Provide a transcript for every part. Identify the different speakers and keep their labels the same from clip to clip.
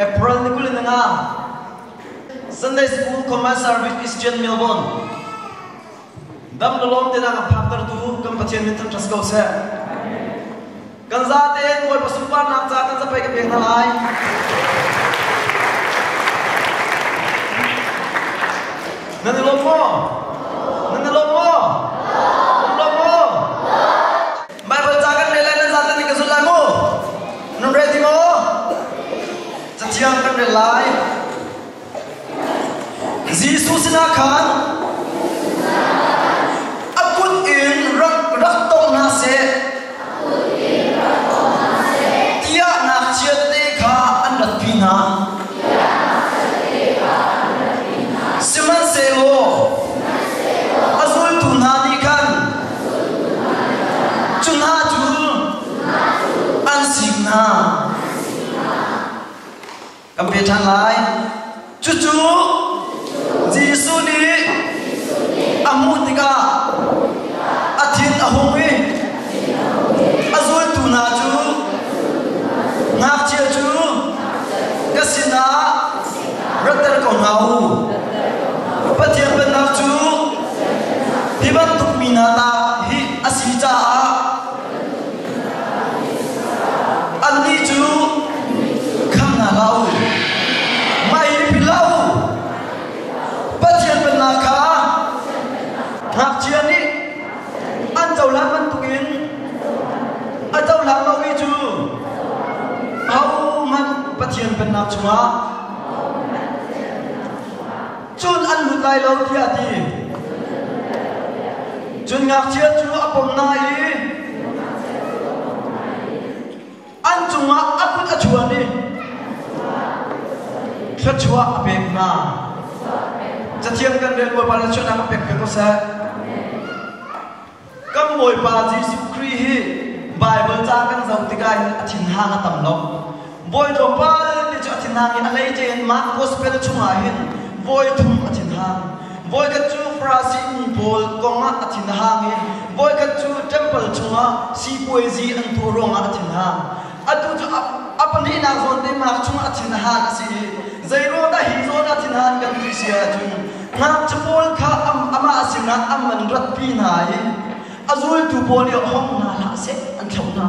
Speaker 1: April ni kul in nga Sunday School Command Service Christian Melbourne Dam le lawm tenak a phaktertu kan Pathian min thanh ṭha si ko seh. Kan zate Bawipa sunparnak ca kan zapai ka pek hna lai. Nan i lawm maw? Nan i lawm maw? Nan lawm maw? Baibal ca kan rel lai nan zate nih ka zulh lai maw? Nan rel ti maw? Cathiang kan rel lai. Jesuh sinah khan a kut in rak rak tong hna seh tiah ngakchiat te kha an ratpi hna. Sihmanhsehlaw a zultu hna nih khan cu hna cu an sing hna. Kan pe ṭhan lai. Cucu Jesuh nih a hmuh tikah a thin a hung i a zultu hna cu ngakchia cu ka sinah ratter ko hna u. Pathian pennak cu hi bantuk mi hna tah hi a si caah Annih cu kham hna hlah u, mah i ripil hlah u. Pathian pennak kha ngakchia nih an cohlang bantukin a cohlang lomi cu ahohmanh Pathian pennak chungah Cun an lut lai lo tiah a ti. Cun ngakchia cu a pom hna i an cungah a kut a chuan i thluachuah a pek hna. Cathiang kan rel Bawipa nih a chuahnak a pek peng u sih. Kan Bawipa Jesuh Khrih hi Baibal ca kan zoh tikah a thinhang a tam lo. Bawi tlawmpal te cu a thinhang i a leice in mah gospel chungah hin voi thum a thinhang. Voikhat cu Farasihmi pawl kongah a thinhang i voikhat cu ṭempal chungah sipuaizi an tuah ruangah a thinhang. Atu cu a pahnihnak zawn teimnak chungah thinhan a si i zei ruang dah hi zawn ah thinhan kan ti si ahcun ngakchia pawl kha amah sinah am an ratpi hna i a zultu pawl i hong hna hlah seh an thlauh hna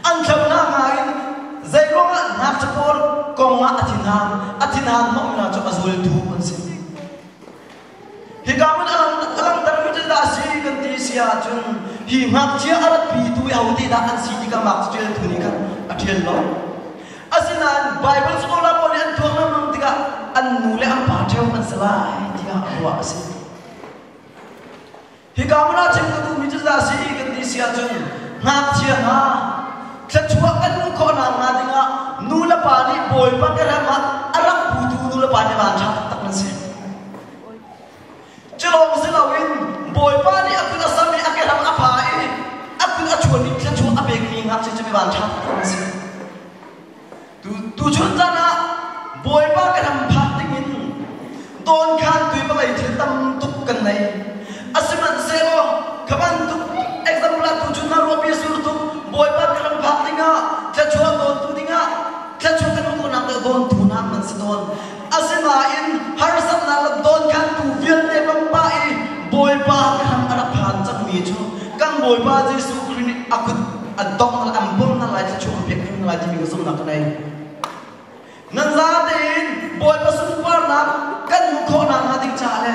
Speaker 1: an thlauh hna hnga in zei ruangah ngakchia pawl kong ah a thinhan a thinhan hmangmi hna cu a zultu an si Hika hmun a langhtermi cu dah a si kan ti si ahcun hi ngakchia a ratpitu i ahote dah an si ti kha ngakchia tu nih khan a ṭial lo. Asinain Baibal sunglaw pawl nih an thuam hrimhrim tikah an nu le an pa ṭheo an si lai tiah ruah a si. Hika hmun ah cim ka duhmi cu dah a si i kan ti si ahcun ngakchia hna thluachuah kan hmuh khawhnak hnga dingah nu le pa nih Bawipa kerem ah a rak putu nu le pa nih van ṭha taktak nan si. Culawng si loin Bawipa nih a kut a sam i a kerem a pha i a kut a chuan i thluachuah a pekmi ngakchia cu mi van ṭha taktak nan si. Tuchun zan ah Bawipa ka ram phak dingin dawnkhan tui palei thil tam tuk kan nei. A sihmanhsehlaw kha bantuk example ah tuchun ah ruahpi a sur tuk Bawipa ka ram phak dingah thluachuah dawntu dingah thluachuah kan hmuhnak dawntu nak nan si tawn. Asinain harsatnak le dawnkhantu vialte pangpah i Bawipa khan a rak phan cangmi cu kan Bawipa Jesuh Khrih nih a kut a dongh hna an bawm hna lai thluachuah an pek hna lai timi ka zumhnak ka nei. Nan za tein Bawipa sunparnak kan hmuh khawh nakhnga ding caah le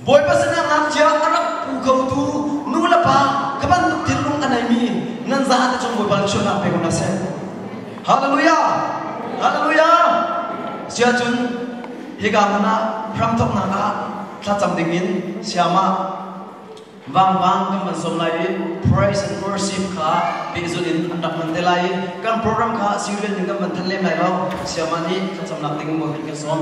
Speaker 1: Bawipa sinah ngakchia a rak pu khotu nu le pa ka bantuk thinlung a neimi nan za te cung Bawipa sualnak pe ko hna seh. Hallelujah! Hallelujah! Siacun hika hmun ah hramthoknak ah thlacam dingin siama vangvang kan van sawm lai i praise and worship kha pehzulh in an rak hman te lai i kan program kha serial in kan van than lem lai lo siama nih thlacamnak ding in Bawipa kan sawm.